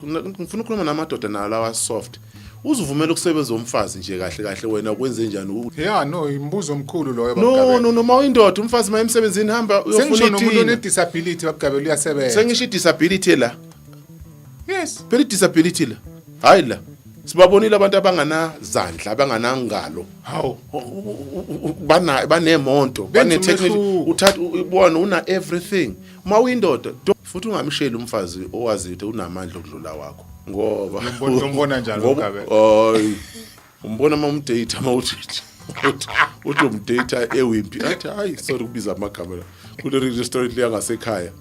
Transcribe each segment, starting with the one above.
ngifuna ukhuluma namadoda nawo lawa soft uzivumela ukusebenza umfazi nje kahle kahle wena ukwenze njani ya no imbuzo omkhulu loyo no no noma uyindoda umfazi maye emsebenzini hamba uyofuna umuntu one disability babugabela uyasebenza sengisho disability la yes phela disability la hayi la sibabonile abantu abanganazandla abanganangalo hawu bana banemonto bane technical uthatha ubona una everything uma uyindoda futhi ungamsheli umfazi owazi ukuthi unamandla okudlula wakho ngoba umbona njalo ugabe hayi umbona uma umdate uma uthi uthi umdate ewimpi athi hayi sorry kubiza amagama la kule restaurant le yangasekhaya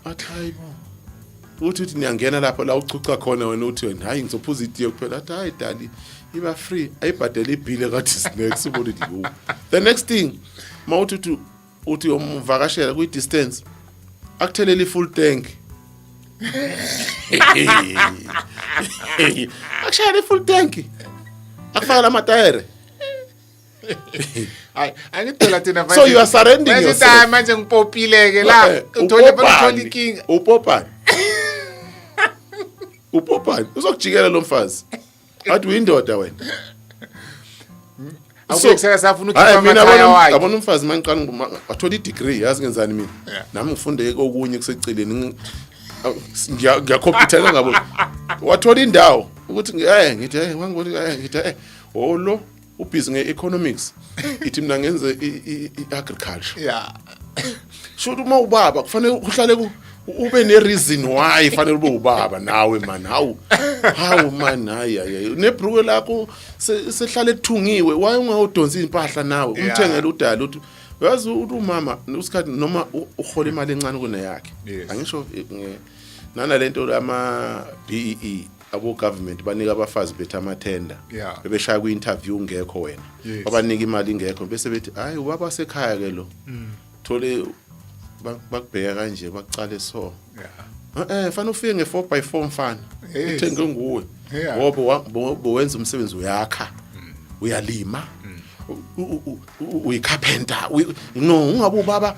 athi hayi bo uthi uthi niyangena lapho la uchucha khona wena uthi wena hayi ngizophuza itiye kuphela athi hayi dali iba free ayibhadele ibhile kathi snacks ubona ukuthi the next thing mawuthi uthi uthi uyomvakashela kwi-distance akuthelele i-full tank akushayela i-full tank akufakela amatayere hayi angidela thina so you are surrending yourself manje ngipopile ke la eh, uthole uthola inkinga upopani upopani uzokujikela lo mfazi athi uyindoda wena awuke kusaka safuna hayi ukhipha mina amakhaya yabona wakhe yabona umfazi mangiqala nguma- wathola i-degree yazi ngenzani mina Yeah. nami ngifunde kokunye kuseceleni ngi- aw, ngiya- ngiyakhompyuthela ngabo wathola indawo ukuthi ngi- eh ngithi eh wangibona eh ngithi eh olo ubhizi nge-economics ithi mina ngenze i-agriculture ya sho ukuthi uma ubaba kufanele uhlale ku ube nereason why fanele ube ubaba nawe man hawu hawu man hayi hayi nebruke lakho sehlale ethungiwe why ungawudonsi impahla nawe umthengele udala uthi uyazi uthi umama usikhathi noma uhola imali encane kuneyakhe angisho nana lento ama BEE e. abo government banika abafazi bethu amathenda yeah. bebeshaya kwi interview ngekho wena yes. babanika imali ngekho bese bethi hayi ubaba sekhaya ke lo mm. thole bakubheka kanje bakucale so yeah. eh fana ufike nge 4 by 4 mfana yes. uthenge nguwe yeah. ngoba bowenza umsebenzi uyakha mm. uyalima mm. uyicarpenter no ungabe ubaba